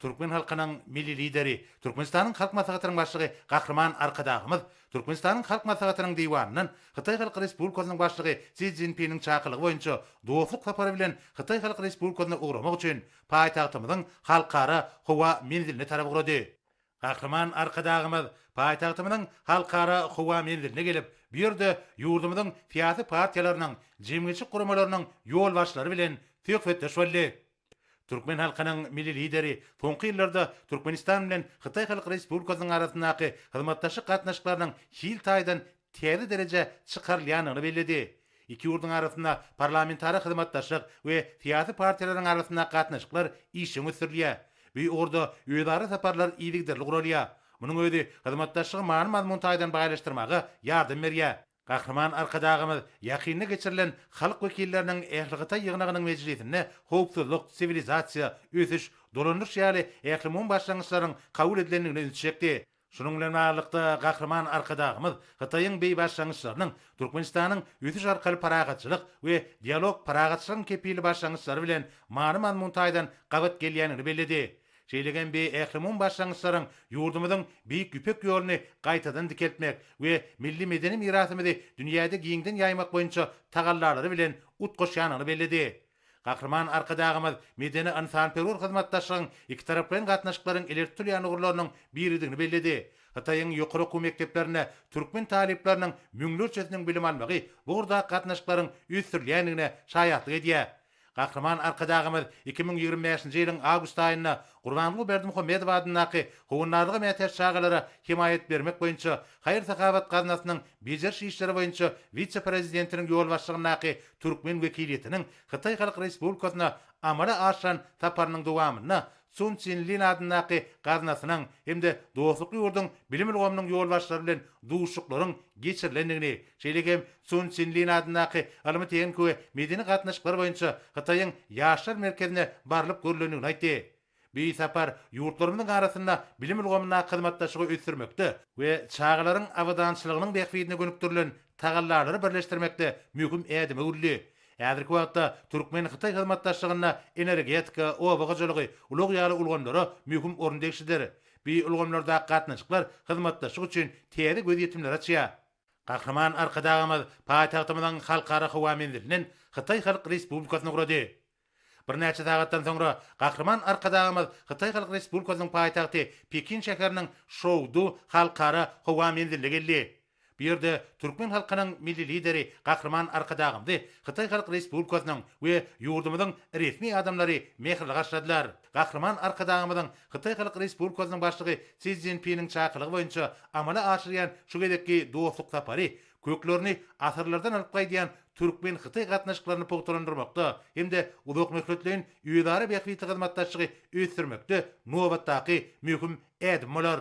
Türkmen halkynyň Milli Lideri, Türkmenistanyň Halk Maslahatynyň Başlygy Gahryman Arkadagymyz, Türkmenistanyň Halk Maslahatynyň Diwanyndan Hytaý Halk Respublikasynyň Başlygy Si Szinpiniň çakylygy boýunça dostluk sapary bilen Hytaý Halk Respublikasyna ugramak üçin paýtagtymyzyň Halkara howa menziline tarap ugrady. Gahryman Arkadagymyz paýtagtymyzyň Halkara howa menziline gelip, bu ýerde ýurdumyzyň syýasy partiýalarynyň, jemgyýetçilik guramalarynyň ýolbaşçylary bilen söhbetdeş boldy. Türkmen halkynyň Milli Lideri soňky ýyllarda Türkmenistan bilen Hytaý Halk Respublikasynyň arasyndaky hyzmatdaşlyk gatnaşyklarynyň hil taýdan täze derejä çykarylýandygyny belledi. Iki ýurduň arasynda parlamentara hyzmatdaşlyk we syýasy partiýalaryň arasyndaky gatnaşyklar işjeň ösdürilýär. Bu ugurda özara saparlar yzygiderli guralýar. Munuň özi hyzmatdaşlygy many-mazmun taýdan baýlaşdyrmaga ýardam berýär. Gahryman Arkadagymyz ýakynda geçirilen halk wekilleriniň ählihytaý ýygnagynyň mejlisinde howpsuzlyk, siwilizasiýa, ösüş, dolandyryş ýaly ählumumy başlangyçlaryň kabul edilendigine ünsi çekdi. Şunuň bilen baglylykda, Gahryman Arkadagymyz Hytaýyň beý başlangyçlarynyň Türkmenistanyň ösüş arkaly parahatçylyk we dialog, parahatçylygyň kepili başlangyçlary bilen many-mazmun taýdan gabat gelýändigini belledi. Şeýle hem bi ählumumy başlangyçlaryň ýurdumyzyň Beýik Ýüpek ýoluny gaýtadan dikeltmek we milli medeni mirasymyzy dünýäde giňden ýaýmak boýunça tagallalary bilen utgaşýanyny belledi. Gahryman Arkadagymyz medeni-ynsanperwer hyzmatdaşlygyň ikitaraplaýyn gatnaşyklaryň ileri tutulýan ugurlarynyň biridigini belledi, Hytaýyň ýokary okuw mekdeplerinde türkmen talyplarynyň müňlerçesiniň bilim almagy bu ugurdaky gatnaşyklaryň ösdürilýändigine şaýatlyk edýär. Gahryman Arkadagymyz iki müň ýigrimi bäşinji ýylyň awgust aýynda Gurbanguly Berdimuhamedow adyndaky Howandarlyga mätäç çagalara hemaýat bermek boýunça haýyr-sahawat gaznasynyň bejeriş işleri boýunça wise-prezidentiniň ýolbaşçylygyndaky türkmen wekiliýetiniň Hytaý Halk Respublikasyna amala aşyran saparynyň dowamynda Sun Çin Lin adyndaky gaznasynyň hem-de dostlukly ýurduň bilim ulgamynyň ýolbaşçylary bilen duşuşyklaryň geçirilendigini, şeýle hem Sun Çin Lin adyndaky ylmy-tehniki we medeni gatnaşyklar boýunça Hytaýyň Ýaşlar merkezine barylyp görlendigini aýtdy. Bu sapar ýurtlarymyzyň arasynda bilim ulgamyndaky hyzmatdaşlygy ösdürmekde we çagalaryň abadançylygynyň bähbidine gönükdirilen tagallalary birleşdirmekde möhüm ädim öwrüldi. Häzirki wagtda türkmen-hytaý hyzmatdaşlygynda energetika, oba hojalygy, ulag ýaly ulgamlara möhüm orun degişlidir. Bu ulgamlardaky gatnaşyklar hyzmatdaşlyk üçin täze gözýetimleri açýar. Gahryman Arkadagymyz paýtagtymyzyň Halkara howa menzilini Hytaý Halk Respublikasyna gurady. Birnäçe sagatdan soňra Gahryman Arkadagymyz Hytaý Halk Respublikasynyň paýtagty Pekin şäheriniň Şoudu halkara howa menziline geldi. Bu ýerde türkmen halkynyň Milli Lideri Gahryman Arkadagymzy Hytaý Halk Respublikasynyň we ýurdumyzyň resmi adamlary mähirli garşyladylar. Gahryman Arkadagymyzyň Hytaý Halk Respublikasynyň Başlygy Si Szinpiniň çakylygy boýunça amala aşyrýan şu gezekki dostluk sapary köklerini asyrlardan alyp gaýdýan türkmen-hytaý gatnaşyklaryny pugtalandyrmakda hem-de uzakmöhletleýin özara bähbitli hyzmatdaşlygy ösdürmekde nobatdaky möhüm ädim bolar.